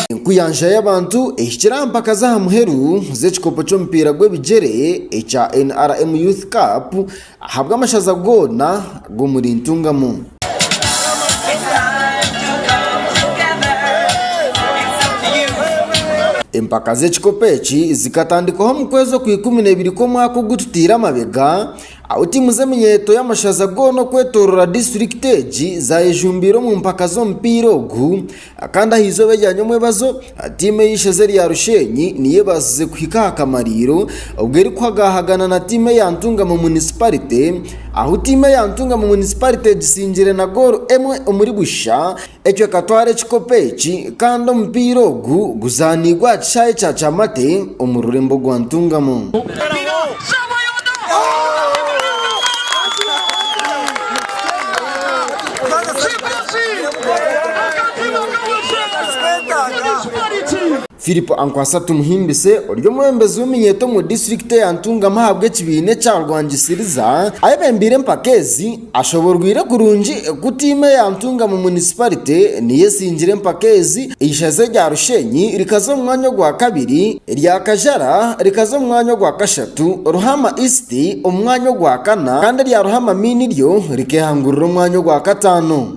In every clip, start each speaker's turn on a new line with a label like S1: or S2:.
S1: Enkuyanja y'abantu ehikire aha mpaka z'aha muheru z'ekikopo ky'omupiira gw'ebigyere ekya NRM Youth Cup ahabw'amashaza goona g'omuri Ntungamo. Empaka z'ekikopo eki zikatandikwaho omu kwezi okwa ikumi na ibiri kw'omwaka ogu tutaire amabega, Aho tiimu z'emiyeeto y'amashaza goona okwetooroora disiturikiti egi zaayejumbiire omu mpaka z'omupiira ogu kandi aha izooba erya nyomwebazo tiimu ey'eisheza erya Rusheenyi niyo ebaasize kuhika aha kamariiro obwo erikuhagaahagana na tiimu eya Ntungamo munisiparite ahu tiimu eya Ntungamo munisiparite egisingire na goolo emwe omuri busha. Ecweka twara ekikopo eki kandi omupiira ogu guzaaniibwe aha kishaayi kya Kyamate omu rurembo gwa Ntungamo. Philip Ankwasa Tumuhimbise ori omwebembezi w'eminyeeto omu disiturikiti ya Ntungamo ahabw'ekibiina ekya Rwangisiriza ayebembeire empaka ezi Ashoborweire kurungi ku tiimu eya Ntungamo Munisiparite niyo esingire empaka ezi, eishaza erya Rusheenyi rikaza omu mwanya ogwa kabiri, erya Kajara rikaza omu mwanya ogwa kashatu, Ruhama East omu mwanya ogwa kana kandi erya Ruhama Main ryo rikehangurira omwanya ogwa kataano.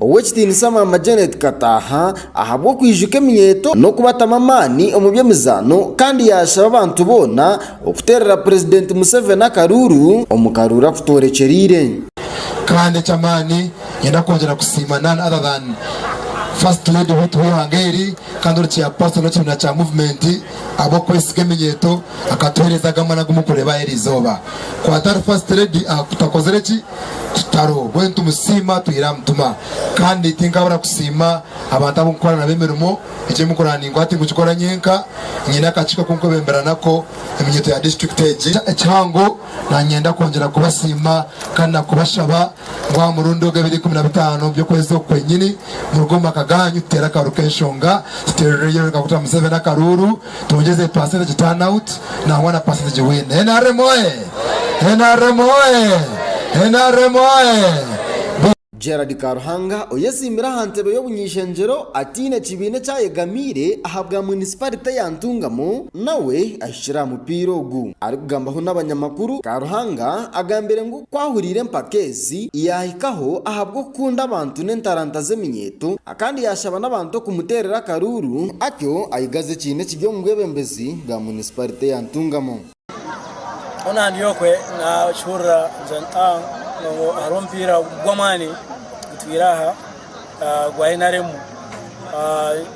S1: Ow'ekitiinisa Maama Janet Kataaha ahabw'okwijuka eminyeeto n'okubatamu amaani omu by'emizaano kandi yaashaba abantu boona okuteerera Purezidenti Museveni akaruuru omu karuuru akutoorekyereire. Kandi
S2: eky'amaani niinyenda kwongyera kusiima none other than First Lady wetu w'eihanga eri kandi ori Chairperson w'ekibiina kya Movement ahabw'okwesiga eminyeeto akatuheereza aga maani agu murikureeba aha eri izooba. Ku atari First Lady aha kutakozire ki? kitaro mbwenu nitumusiima atwire aha mutima kandi tinkabura kusiima abantu abu nkukora nabo emirimo. Eki emirimo ndikukora ninkora tinkugikora nyenka, nyine akakiiko aku nkwebembera nako eminyeeto ya disiturikiti egi. Ekihango nanyenda kwongyera kubasiima kandi na kubashaba ngu aha murundi ogu ebiro ikumi na bitaano by'okwezi oku kwenyini muruge omu maka gaanyu tuteere akaru k'enshonga tuteerereyo Rekaguta Museveni akaruuru. Twongyeze pasenteji tanawuti nangwa na pasenteji wini. Nrm oye! Nrm oye! Nrm
S1: oye! Gerald Karuhanga oyetsimbire aha ntebe y'obunyaishengyero ataine kibiina eki ayegamiire ahabwa munisiparite ya Ntungamo nawe ahikire aha mupiira ogu. Arikugambaho n'abanyamakuru, Karuhanga agambire ngu ku ahuriire empaka ezi yaahikaho ahabw'okukunda abantu n'entaranta z'eminyeeto, Kandi yaashaba n'abantu okumuteerera akaruuru. Atyo ayigaza ekiina ekiri omu bwebembezi bwa munisiparite ya Ntungamo.
S3: Hono aha ndi okwe nakihurira ngira nti ah ngu hariho omupiira gw'amaani gutwire aha gwa nrm.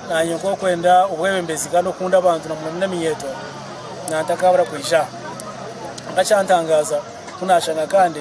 S3: Naanye nk'okwenda obwebembezi kandi okukunda abantu na muno eminyeeto, nantakaabura kwija aha. Kwonka ekyantangaaza ku naashanga kandi.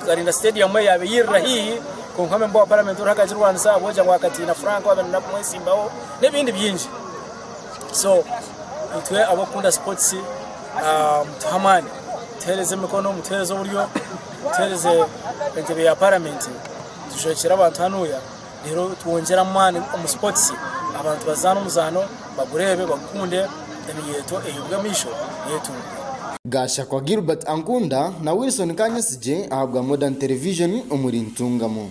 S3: Tuzarinda Stadium eyo yaabaire eirira haihi, kwonka memba wa Paramenti oriho akagirwanisa ahabw'obuja bwa Katiina Frank owaabaire naija kumwetsimbaho n'ebindi bingi. So itwe ab'okukunda sipotisi ah, mutuhe amaani, mutuheereze emikono, mutuheereze oburyo, mutuheereze entebe ya Paramenti, tushwekyere abantu hanuuya. reero twongyere amaani omu sipootisi abantu bazaane omuzaano bagureebe bagukunde emiyeeto eihubwe amaisho eyetungure. Gashakwa
S1: Gilbert Ankunda na Wilson Kanyesigye ahabwa Modern Television omuri Ntungamo.